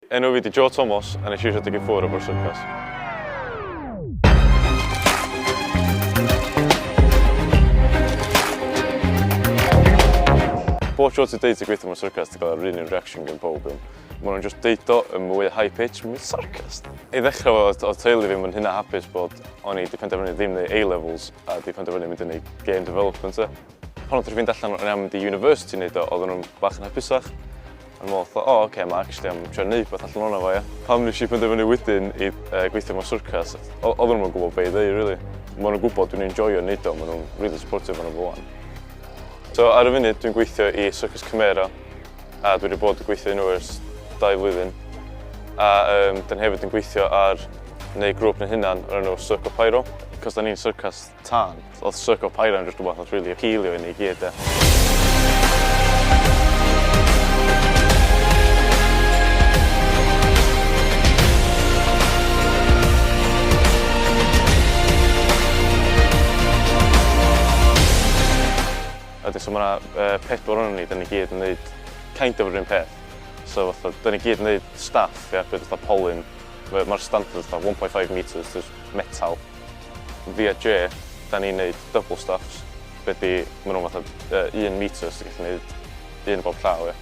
Enw fi di Joe Thomas a nes i eisiau deg i ffwr o Bro Syrcas. Bob tro ti'n deud ti gweithio mewn syrcas, ti'n cael yr un un reaction gen pob un. Mae nhw'n just deud o yn mwy high pitch, mae'n sarcas. I ddechrau oedd o teulu fi, mae'n hynna hapus bod o'n i wedi penderfynu ddim neu A-levels a wedi penderfynu mynd yn ei game development e. Pan oedd ti'n fynd allan o'n i am di university wneud o, oedden nhw'n bach yn hapusach. Yn meddwl, o, oh, okay, mae actually am trio wneud beth allan o'na fo, ia. Pam nes i penderfynu wedyn i uh, gweithio mewn syrcas, oedden nhw'n gwybod beth i ddweud, really. Mae nhw'n gwybod dwi'n enjoyio wneud o, mae nhw'n really supportive o'n efo fan. So, ar y funud, dwi'n gweithio i Syrcas Cymera, a dwi wedi bod yn gweithio nhw ers dau flwyddyn. A um, dyn hefyd yn gweithio ar neu grŵp yn hynna'n o'r enw Circo Pyro, cos da ni'n syrcas tân. Oedd Circo Pyro yn jyst rhywbeth oedd rili apîlio i ni i gyd de. Wedyn so ma' 'na yy pedwar ohonon ni, 'dan ni gyd yn neud kind of yr un peth. So fatha 'dan ni gyd yn neud staff ie, be' fatha polyn. Ma'r standard fatha one point five metres jyst metal. Fi a Jay, 'da ni'n neud double stops, be' 'di, ma' nhw'n fatha un metre so ti'n gallu neud un o bob llaw ia.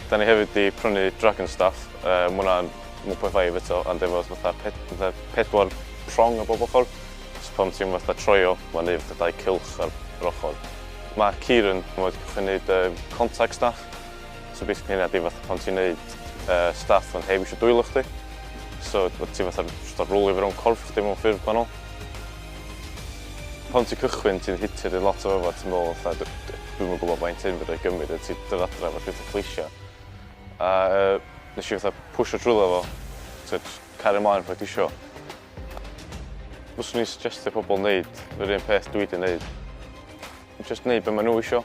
'Da ni hefyd 'di prynu dragon staff, yy ma' hwnna'n one point five eto ond efo fatha ped- fatha pedwar prong ar bob ochr, so pan ti'n fatha troio ma'n neud fatha dau cylch ar yr ochr. Ma' Kieran, ma' 'di cychwyn neud yy contact staff. So basically hynna ydi fatha pan ti'n neud uh, stuff ond heb eisiau dwylo chdi. So ti fatha just ar rwlio fewn corff chdi mewn ffurf gwahanol. Pan ti'n cychwyn ti'n hitio'r un lot o efo ti'n meddwl fatha dwi'm yn gwybod faint hyn fydda i gymryd a ti'n dod adra efo llwyth o cleisio. A uh, nes i fatha pwysio trwyddo fo, ti'n cario mlaen fod ti isio. Fyswn i'n suggestio pobl wneud yr un peth dwi wedi wneud. Jyst neud be ma nhw isio.